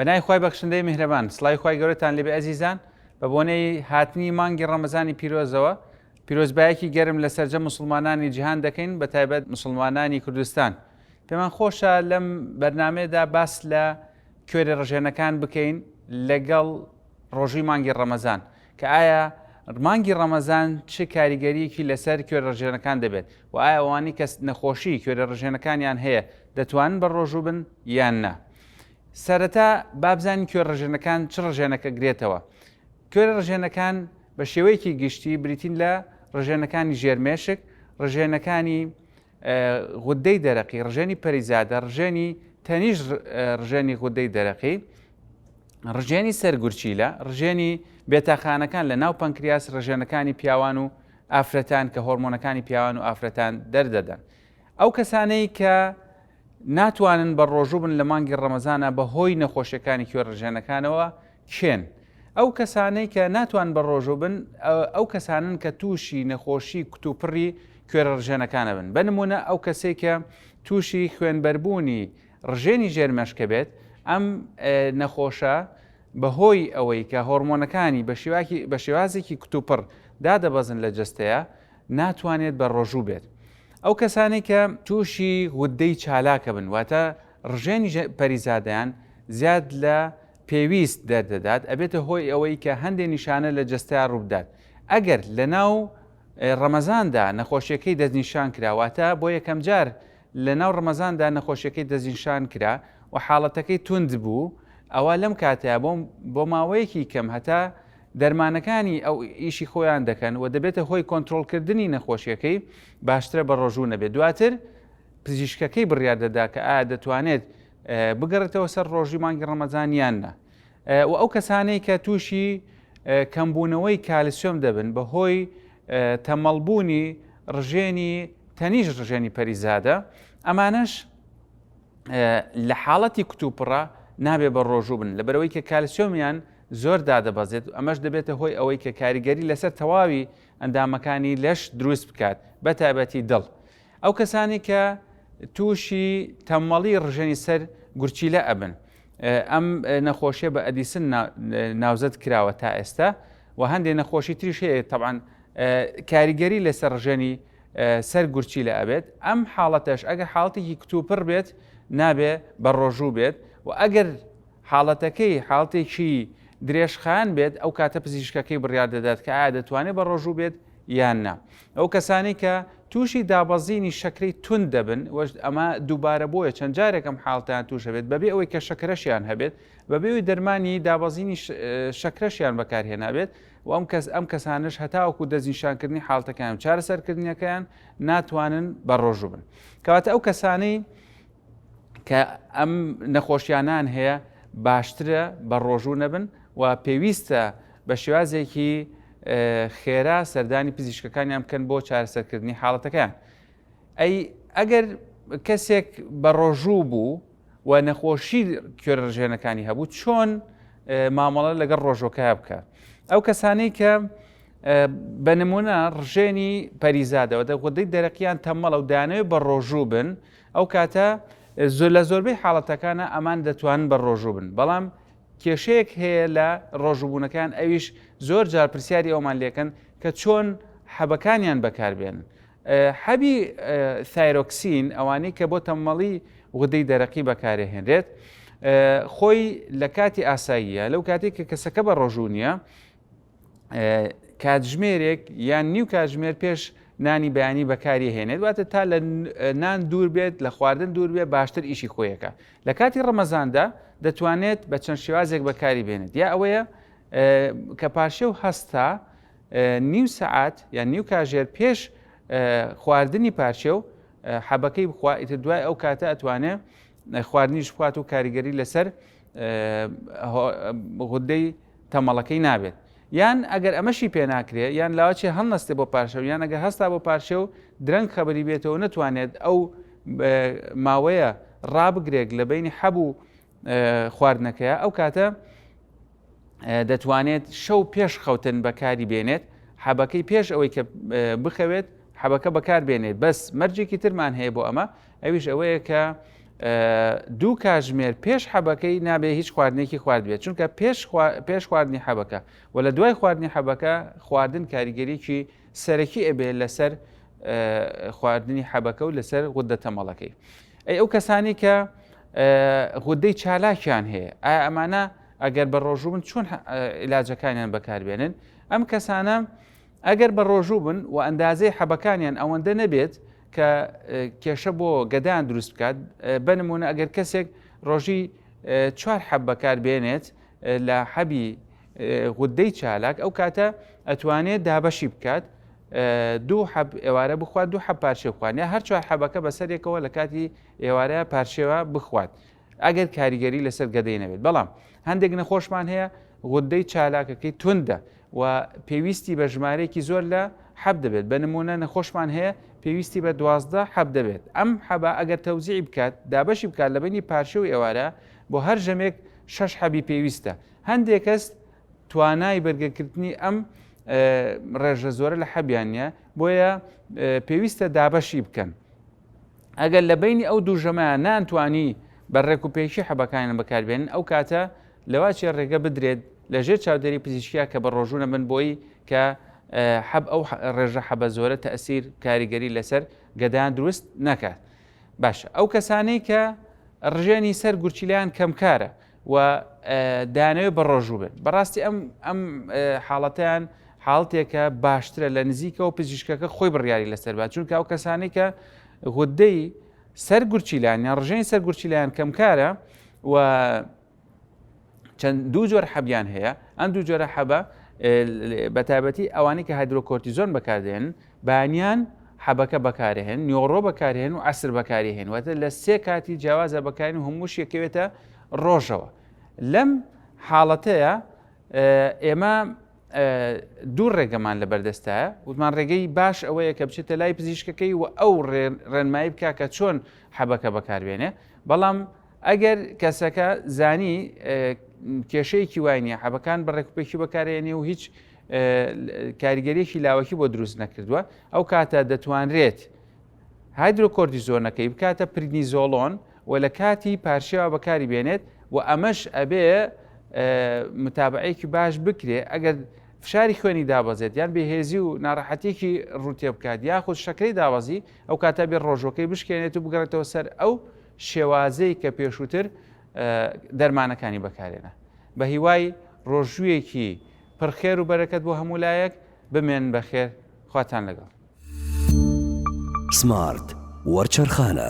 بەنای خی بەخشندەی میهرەبان سلای خی گەورەتان لێبێ ئەزیزان بە بۆنەی هاتنی مانگی ڕەمەزانی پیرۆزەوە پیرۆزبایەکی گەرم لە سەررجە مسلمانانی جیهان دەکەین بە تایبەت مسلمانانی کوردستان پێمان خۆشە لەم بەرنمەیەدا باس لە کوێرە ڕژێنەکان بکەین لەگەڵ ڕۆژووی مانگی ڕەمەزان، کە ئایا مانگی ڕەمەزان چ کاریگەرییەکی لەسەر کوێرەڕژێنەکان دەبێت و ئایا ئەوانەی کە نەخۆشی کوێرەڕژێنەکانیان هەیە دەتوانن بە ڕۆژوو بن یان نا؟ سەرەتا با بزانین کوێرڕژێنەکان چ ڕژێنەکە گرێتەوە؟ کوێرە ڕژێنەکان بە شێوەیەکی گشتی بریتین لە ڕژێنەکانی ژێرمێشک، ڕژێنەکانی غودەی دەرەقی، ڕژێنی پەریزادە، ڕژێنی تەنیشت، ڕژێنی غودەی دەرەقی، ڕژێنی سەر گورچیلە، ڕژێنی بێتاخانەکان لە ناو پەنکریاس، ڕژێنەکانی پیاوان و ئافرەتان کە هۆرمۆنەکانی پیاوان و ئافرەتان دەردەدەن. ئەو کەسانەی کە ناتوانن بەڕۆژوو بن لە مانگی ڕەمەزانا بە هۆی نەخۆشیەکانی کوێر ڕژێنەکانەوە کێن ئەو کەسانەی کە ناتوان بە ڕۆژوو بن ئەو کەسانن کە تووشی نەخۆشی کتوپڕی کوێرە ڕژێنەکانە بن بە نمونە ئەو کەسێک کە تووشی خوێنبەربوونی ڕژێنی ژێر مەشکە بێت ئەم نەخۆشە بەهۆی ئەوەی کە هۆرمۆنەکانی بە شێوازێکی کتوپڕ دادەبەزن لە جستەیە ناتوانێت بە ڕۆژوو بێت ئەو کەسانی کە تووشی غودەی چالاکە بن واتە ڕژێنی پەریزادیان زیاد لە پێویست دەردەدات ئەبێتە هۆی ئەوەی کە هەندێ نیشانە لە جەستەیا ڕووبدات ئەگەر لەناو ڕەمەزاندا نەخۆشیەکەی دەستنیشان کرا واتە بۆ یەکەمجار لەناو ڕەمەزاندا نەخۆشیەکەی دەستنیشان کرا و حاڵەتەکەی توند بوو ئەوا لەم کاتەیا بۆ بۆ ماوەیەکی کەم هەتا دەرمانەکانی ئەو ئیشی خۆیان دەکەن و دەبێتە هۆی کۆنترۆڵکردنی نەخۆشیەکەی باشترە بە ڕۆژوو نەبێت دواتر پزیشکەکەی بڕیار دەدا کە ئایا دەتوانێت بگەڕێتەوە سەر ڕۆژی مانگی ڕەمەزان یان نا و ئەو کەسانەی کە تووشی کەمبوونەوەی کالسیۆم دەبن بە هۆی تەمەڵبوونی ڕژێنی تەنیش ڕژێنی پەریزادە ئەمانەش لە حاڵەتی کتوپڕە نابێ بە ڕۆژوو بن لە بەرەوەی کە کالسیۆمیان زۆر دادەبەزێت ئەمەش دەبێتە هۆی ئەوەی کە کاریگەری لەسەر تەواوی ئەندامەکانی لەش دروست بکات بە تایبەتی دڵ ئەو کەسانەی کە تووشی تەمەڵی ڕژێنی سەر گورچیلە ئەبن ئەم نەخۆشیە بە ئەدیسن ناوزەد کراوە تا ئێستا و هەندێک نەخۆشی تریش هەیە تەبان کاریگەری لەسەر ڕژێنی سەر گورچی لە ئەبێت ئەم حاڵەتەش ئەگەر حاڵتێکی کتوپڕ بێت نابێ بە ڕۆژوو بێت و ئەگەر حاڵەتەکەی حاڵتێکی درێژخان بێت ئەو کاتە پزیشکەکەی بڕیار دەدات کە ئایا دەتوانێت بە ڕۆژوو بێت یان نا. ئەو کەسانەی کە تووشی دابەزینی شەکرەی توند دەبن و ئەمە دووبارە بۆیە چەند جارێک ئەم حاڵتەیان تووش دەبێت بەبێ ئەوەی کە شەکرەشیان هەبێت بەبێ ئەوی دەرمانی دابەزینی شەکرەشیان بەکارهێنابێت و ئەم کەس ئەم کەسانش هەتاوەکو دەستنیشانکردنی حاڵتەکان و چارەسەرکردنیەکەیان ناتوانن بە ڕۆژوو بن کەواتە ئەو کەسانەی کە ئەم نەخۆشیانان هەیە باشترە بە ڕۆژوو نەبن و پێویستە بە شێوازێکی خێرا سەردانی پزیشکەکانیان بکەن بۆ چارەسەرکردنی حاڵەتەکەیان ئەی ئەگەر کەسێک بە ڕۆژوو بوو و نەخۆشی کوێرەژێنەکانی هەبوو چۆن مامەڵە لەگەڵ ڕۆژۆکە بکە ئەو کەسانەی کە بە نمونە ڕژێنی پەریزادەوە دەگودەی دەرەقیان تەمەڵە و دانەوێ بە ڕۆژوو بن ئەو کاتە زۆر لە زۆربەی حاڵەتەکانە ئەمان دەتوانن بە ڕۆژوو بن بەڵام کێشەیەک هەیە لە ڕۆژووبوونەکان ئەویش زۆر جار پرسیاری ئەومان لێکەن کە چۆن حەبەکانیان بەکاربێنن حەبی ثایرۆکسین ئەوانەی کە بۆ تەمەڵی غودەی دەرەقی بەکارهێنرێت خۆی لە کاتی ئاساییە لەو کاتێک کە کەسەکە بە ڕۆژوو نیە کاتژمێرێک یان نیو کاتژمێر پێش نانی بەیانی بەکاری هێنێت واتە تا لە نان دوور بێت لە خواردن دوور بێت باشتر ئیشی خۆیەکە لە کاتی ڕەمەزاندا دەتوانێت بە چەند شێوازێک بەکاری بێنێت یا ئەوەیە کە پارشێ و هەستا نیو سعات یان نیو کاژێر پێش خواردنی پارچێ و حەبەکەی بخوا ئیتر دوای ئەو کاتە ئەتوانێت خواردنیش بخوات و کاریگەری لەسەر غدەی تەمەڵەکەی نابێت یان ئەگەر ئەمەشی پێناکرێ یان لاوەچێ هەڵنەستێ بۆ پارشەو یان ئەگەر هەستا بۆ پارشێ و درەنگ خەبەری بێتەوە نەتوانێت ئەو ماوەیە ڕابگرێک لە بینی حەب و خواردنەکەیە ئەو کاتە دەتوانێت شەو پێش خەوتن بەکاری بێنێت حەبەکەی پێش ئەوەی کە بخەوێت حەبەکە بەکار بێنێت بەس مەرجێکی ترمان هەیە بۆ ئەمە ئەویش ئەوەیە کە دوو کاژمێر پێش حەبەکەی نابێ هیچ خواردنێکی خوارد بێت چونکە پێش پێش خواردنی حەبەکە و لە دوای خواردنی حەبەکە خواردن کاریگەریکی سەرەکی ئەبێ لەسەر خواردنی حەبەکە و لەسەر غوددە تەمەڵەکەی ئەی ئەو کەسانی کە غودەی چالاکیان هەیە ئایا ئەمانە ئەگەر بە ڕۆژوو بن چۆن علاجەکانیان بەکاربێنن ئەم کەسانە ئەگەر بە ڕۆژوو بن و ئەندازەی حەبەکانیان ئەوەندە نەبێت کە کێشە بۆ گەدان دروست بکات بە نمونە ئەگەر کەسێک ڕۆژی چوار حەب بەکار بێنێت لە حەبی غودەی چالاک ئەو کاتە ئەتوانێت دابەشی بکات دوو حەب ئێوارە بخوات دوو حە پارچێ بخوانە هەر چوار حەبەکە بەسەرێکەوە لە کاتی ئێوارە پارچێوە بخوات ئەگەر کاریگەری لەسەر گەدەی نەبێت بەڵام هەندێک نەخۆشمان هەیە غدەی چالاکەکەی توندە و پێویستی بە ژمارەیەکی زۆر لە حەب دەبێت بە نمونە نەخۆشمان هەیە پێویستی بە دوازدە حەب دەبێت ئەم حەبا ئەگەر تەوزیعی بکات دابەشی بکات لە بینی پارچە و ئێوارە بۆ هەر ژەمێک شەش حەبی پێویستە هەندێک کەس توانای بەرگەکردنی ئەم ڕێژە زۆرە لە حەبیان نیە بۆیە پێویستە دابەشی بکەن ئەگەر لە بەینی ئەو دوو ژەمەیان نانتوانی بە ڕێک و پێکی حەبەکانیان بەکاربێنن ئەو کاتە لەواچێ ڕێگە بدرێت لە ژێر چاودێری پزیشکیا کە بە ڕۆژوو نەبن بۆی کە حەب ئەو ڕێژە حەبە زۆرە تەسیر کاریگەری لەسەر گەدان دروست نەکات باشە ئەو کەسانەی کە ڕژێنی سەر گورچیلیان کەمکارە و دەیانەوێت بەڕۆژوو بن بەڕاستی ئەم ئەم حاڵەتیان حاڵتێکە باشترە لە نزیکەوە پزیشکەکە خۆی بڕیاری لەسەر بات چونکە ئەو کەسانی کە غدەی سەر گورچیلان یان ڕژێنی سەر گورچیلان کەمکارە و چەند دوو جۆر حەبیان هەیە ئەم دوو جۆرە حەبە بە تایبەتی ئەوانی کە هایدرۆکۆرتیزۆن بەکاردێن بەیانیان حەبەکە بەکارئەهێن، نیۆڕۆ بەکارئەهێن و عەسر بەکاریئەهێن، واتە لە سێ کاتی جیاوازا بەکارئەهێن و هەمووش یەکەوێتە ڕۆژەوە. لەم حاڵەتەیا ئێمە دوو ڕێگەمان لە بەردەستە وتمان ڕێگەی باش ئەوەیە کە بچێتە لای پزیشکەکەی و ئەو ڕێنمایی بکە کە چۆن حەبەکە بەکاربێنێ بەڵام ئەگەر کەسەکە زانی کێشەیەکی وای نیە حەبەکان بە ڕێکوپێکی بەکارێنێ و هیچ کاریگەریەکی لاوەکی بۆ دروست نەکردووە ئەو کاتە دەتوانرێت هایدروکۆردیزۆنەکەی بکاتە پرگنیزۆڵۆن و لە کاتی پارشێوا بەکاری بێنێت و ئەمەش ئەبێ متابعەیەکی باش بکرێ ئەگەر فشاری خوێنی دابەزێت یان بێهێزی و ناڕەحەتێکی ڕوتێ بکات یاخود شەکری داوازی ئەو کاتە بێ ڕۆژەکەی بشکێنێت و بگەڕێتەوە سەر ئەو شێوازەی کە پێشووتر دەرمانەکانی بەکارێنا بە هیوای ڕۆژوویەکی پڕ خێر و بەرەکەت بۆ هەموو لایەک بمێن بەخێر خواتان لەگەڵ. سمارت وەرچەرخانە.